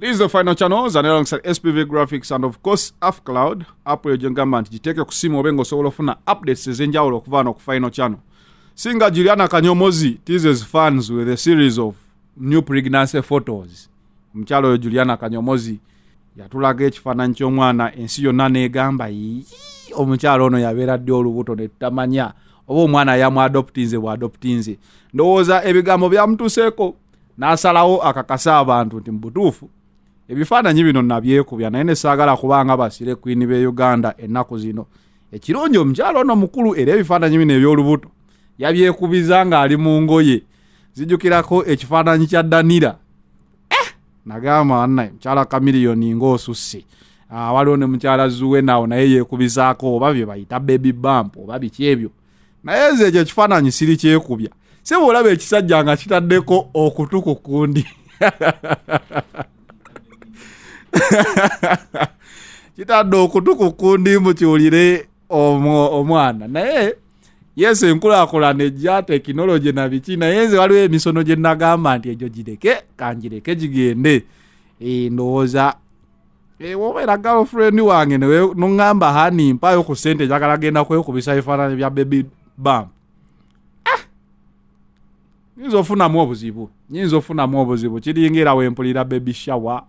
It is the final channels and alongside SPV Graphics and of course AffCloud app eyo gyengamba nti giteeke ku simu obe ng'osobola ofuna updates ez'enjawulo okuva wano ku final channel singa Juliana Kanyomozi teases fans with a series of new pregnancy photos omukyalo oyo juliana kanyomozi yatulaga ekifaananyi ky'omwana ensi yonna negamba omukyalo ono yabeera ddi olubuto netutamanya oba omwana yamu adoptinze bwa adoptinze ndowooza ebigambo byamutuseeko n'asalawo akakase abantu nti mu butuufu ebifaananyi bino nabyekubya naye nesaagala kubanga basire kwini be uganda ennaku zino ekirungi omukyalo ono mukulu era ebifaananyi bino eby'olubuto yabyekubiza ng'ali mu ngoye zijukirako ekifaananyi kya danira eh! nagamba anna mukyala kamiliyoni ngaosusse ah, waliwo ne mukyala zuwe nawo naye yekubizaako oba bye bayita baby bump oba biki ebyo naye nze ekyo ekifaananyi siri kyekubya si bwolaba ekisajja nga kitaddeko okutu ku kundi kitadde okutu ku kundi mukiwulire omwana naye yes enkulaakulana ejja tekinologi na biki naye nze waliwo emisono gye nagamba nti egyo gireke kangireke gigende eh, ndowooza eh, wobeera girlfriend wange noŋamba hani mpayo ku sente njagala genda kwekubisa ebifaananyi bya baby bam ah! nyinza ofunamu obuzibu nyinza ofunamu obuzibu kiringa era wempulira baby shower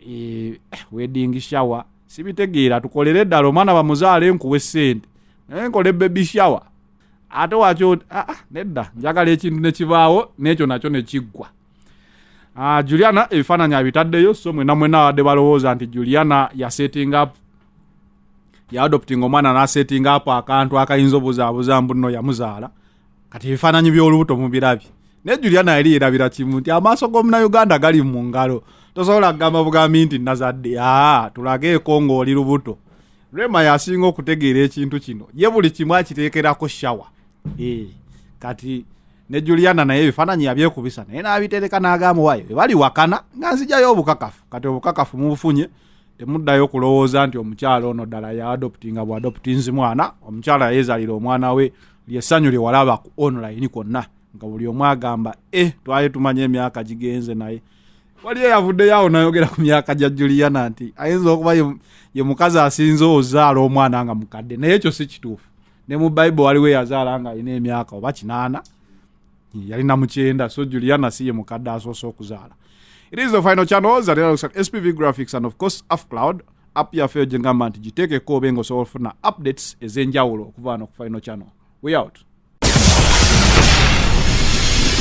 eh, wedding shower sibitegeera tukolere ddala omwana bamuzaala enkuwa esente naye nkole baby shower ate wakyo ah, ah, nedda njagala ekintu nekibaawo n'ekyo nakyo nekiggwa ah, juliana ebifaananyi abitaddeyo so mwena mwena abadde balowooza nti juliana yasetting up yaadoptinga omwana nasetting up akantu akayinza obuzaabuza mbuno yamuzaala kati ebifaananyi by'olubuto mubirabye naye juliana yali yerabira kimu nti amaaso g'omunauganda gali mu ngalo tosobola kugamba bugambi nti nazadde aa tulageeko ng'oli lubuto rema yasinga okutegeera ekintu kino ye buli kimu akiteekerako shawa eh, kati ne juliana naye ebifaananyi yabyekubisa naye n'abitereka n'agamba wayo ebali wakana nga nzijayo obukakafu kati obukakafu mubufunye temuddayo kulowooza nti omukyala ono ddala yaadoptinga bwadoptinzi mwana omukyala yayezalira omwana we lyessanyu lyewalaba ku online kwonna nga buli omu agamba e eh, twali tumanya emyaka gigenze naye waliyo yavuddeyo awo nayogera ku myaka gya juliana nti ayinza okuba ye mukazi asinze ozaala omwana nga mukadde naye ekyo si kituufu ne mu bible waliwo eyazaala nga alina emyaka oba kinaana yali namukyenda so juliana si ye mukadde asoose okuzaala it is the final channel zalira spv graphics and of course afcloud app yaffe yo gyengamba nti giteekeko obe nga osobola ofuna updates ez'enjawulo okuva wano ku final channel we out